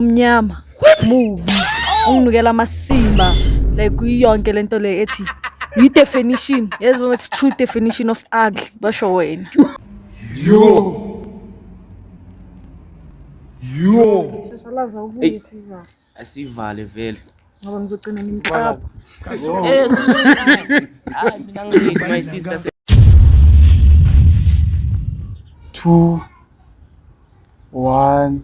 umnyama mubi unginukela amasimba like kuyonke lento le ethi yi definition yazi boma ethi true definition of ugly basho wena yo yo sisalaza ukuyisiva asivale vele ngoba ngizogcina ngimqapha eh, hayi mina ngiyini my sister two one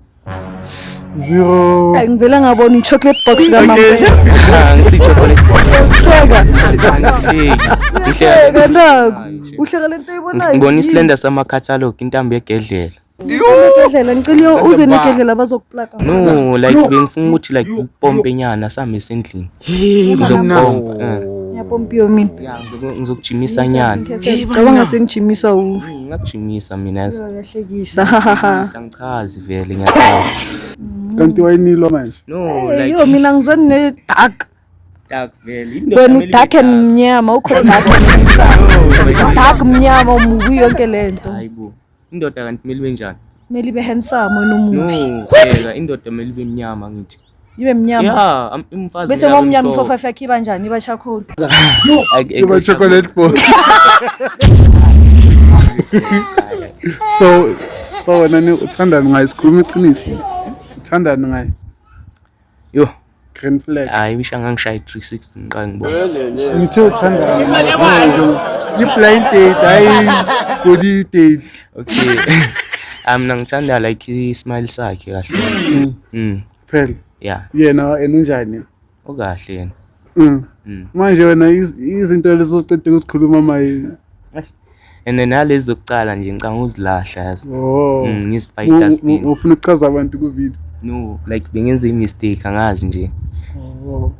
zero hayi ngivele ngabona i-chocolate box kamamngisichocolate box uhleka uhleka naku uhleka le nto ibonayo ngibona isilenda sama-catalog intambo yegedlela Ngidlela ngicela uze negedlela bazokuplaka. No, like bengifuna ukuthi like upompe nyana same sendlini. Uzopompa. Eh. Ngiyapompiwa mina. Yeah, ngizokujimisa nyana. Cabanga sengijimiswa u. Hmm, ngakujimisa mina. Uyahlekisa. Ngichazi vele ngiyachaza. Hmm. Kanti wayinilwa manje? No, like. Yo mina ngizweni ne dark. Dark vele. Wena udark and mnyama ukhona dark. Dark mnyama umubi yonke lento. Hayibo. Indoda kanti kumele ibe njani? Kumele ibe handsome wena umuhle. No, phela indoda kumele ibe mnyama ngithi. Ibe mnyama. Yeah, am- umfazi. Bese kumele abe ngomnyama mhlophe. ifofafa yakhe iba njani? Iba charcoal. Ay- ay- Iba ay- chocolate bar. So so wena ni uthandani ngaye sikhuluma iqiniso. Uthandani ngaye? Yo, green flag hayi ngisho angangishaye 360 ngiqala ngibona ngithe uthanda i-blind date hayi body date okay ah, mina ngithanda like i-smile sakhe kahle mm. mm. phela ya yena yena unjani ukahle yena mm. manje wena izinto lezo siqedile ukuzikhuluma maye and then nalezi zokucala nje ngicanga ukuzilahla yazi oh mm, ngizifake dustbin ufuna ukuchaza abantu ku video no like bengenza i mistake angazi nje oh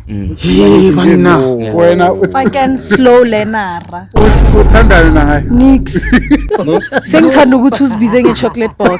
mm. Hey banna wena fucking slow learner uthandana naye nix sengithanda ukuthi uzibize nge chocolate box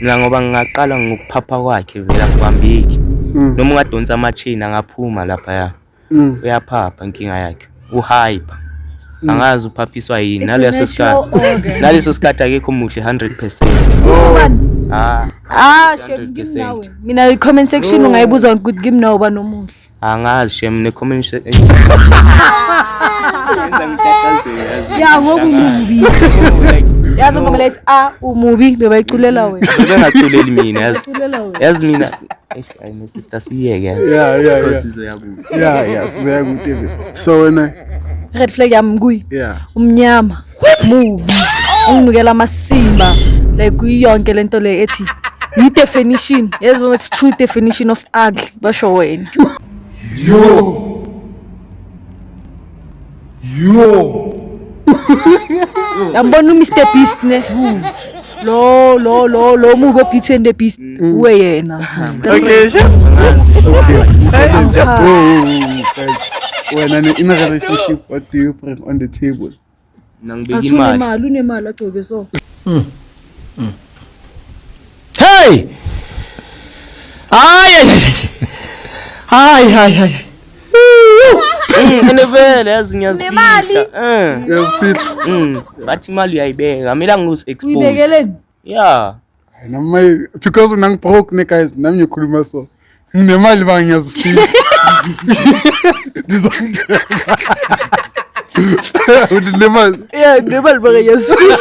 mina ngoba ngingaqala ngokuphapha kwakhe vele akuhambeki mm. noma ungadonsa amachini angaphuma laphaya mm. uyaphapha inkinga yakhe uhyper Mm. angazi uphaphiswa yini naleso sikhathi naleso sikhathi akekho muhle 100% ah ah shame ngimnawe mina i comment section ungayibuza ukuthi ngimnawe banomuhle Angazi shem ne comment section. Ya ngoku mubi. Yazi ngoba lethi a ah, umubi bebayiculela wena. Bengaculeli mina yazi. Yazi mina ayi my sister siyeke yazi. Yeah yeah yeah. Sizoya kude. Yeah yeah sizoya kude. So wena red flag yami kuyi. Yeah. Umnyama. mubi unginikela amasimba like kuyonke lento le ethi yi definition yazi baba it's true definition of ugly basho wena yo yo yambona uMr Beast ne lo lo lo lo mubi obeauty and the beast uwe yena Okay, sure. Bro, guys, when I'm in a relationship, what do you bring on the table? Nang bigyan Aso man. nemali, unemali agcoke so. Hey! Ay, ay, ay. Ay, ay, ay. Ngene vele yazi ngiyazifihla. Nemali. Eh. Ngiyazifihla. Mm. Bathi imali uyayibeka. Mina ngikuzi expose. Uyibekeleni? Yeah. Na mai because unang broke ne guys nami ngikhuluma so. Nginemali ba ngiyazifika. Ngizongithenga. Unemali. Yeah, nginemali ba ngiyazifika.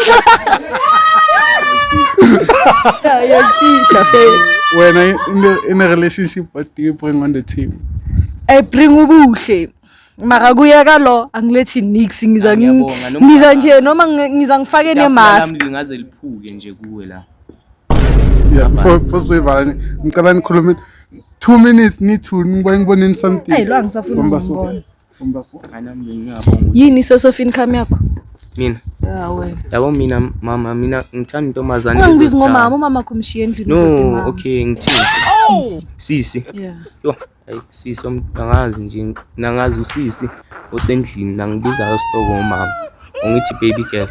Ngiyazifika fe. Wena in a, in a relationship what do you bring on the table? I bring ubuhle. mara kuyeka lo angilethi nix ngiza ngiza nje noma ngiza ngifake nemask ngaze liphuke nje kuwe la yeah for for sivani ngicela nikhulume 2 minutes ni 2 ngibuye ngiboneni something hey lo angisafuni ngibona yini source of income yakho mina yabo mina mama mina ngithanda intombazane ungangibizi ngomama umama kumshiya endlini no okay ngithini sisi sisi yeah Ayi sisi angazi nje nangazi usisi osendlini nangibizayo stoko umama ungithi baby girl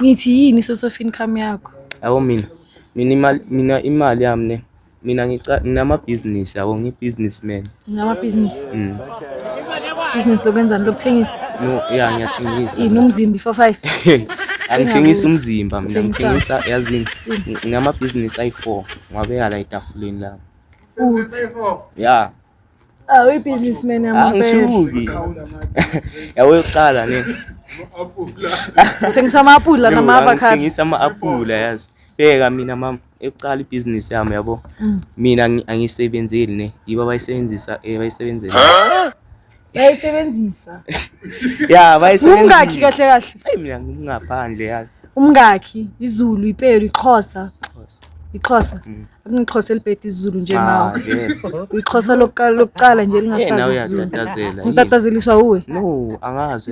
ngithi yini source of income yakho yabo mina mina imali mina imali yami ne mina nginamabhizinisi yabo ngiyi-businessman nginamabhizinisi mm. business lokwenzani lokuthengisa no ya ngiyathengisa yini umzimba i-four five angithengisa umzimba mina ngithengisa yazini nginamabhizinisi ayi-four Ngwabeka la etafuleni lami. Uthi ya. Ah, we businessman yamabele. Angithuki. Yawe uqala ne. Thengisa ama-apula nama-avocado. Ngithengisa ama-apula yazi. Bheka mina mama ekuqala ibhizinisi yami yabo. Mm. Mina angisebenzeli ne. Yibo abayisebenzisa eh, abayisebenzela. bayisebenzisa ya bayisebenzisa umngakhi kahle kahle ayi mina ngingaphandle ya umngakhi izulu ipelo ixhosa ixhosa mm. akunixhosa elibhede izulu njengawo ah, ixhosa lokuqala nje lingasazi izulu ngitatazeliswa uwe no angazi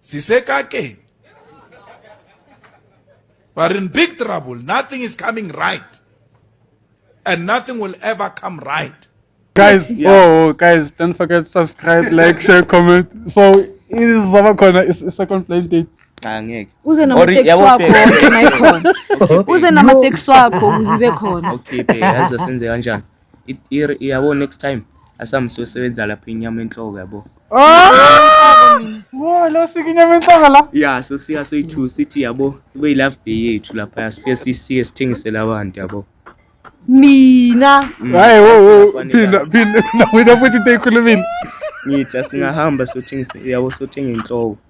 sisekakeni we're in big trouble nothing is coming right and nothing will ever come right guys yeah. oh guys don't forget subscribe like share comment so izaba khona i-second plane date angeke uze namateksi wakho wonke nayikhona uze namateksi wakho uzibe khona okay bhe yazi senze kanjani yabo next time asambe siyosebenza lapha inyama enhloko yabo ah! Wo lo sike inyama enhloko la ya so siya so ithu sithi yabo kube i love day yethu lapha sifike sisike sithengisele abantu yabo mina mm. hayi wo wo phinda phinda wena futhi into eyikhulumile ngithi asingahamba sothengisela yabo sothenga inhloko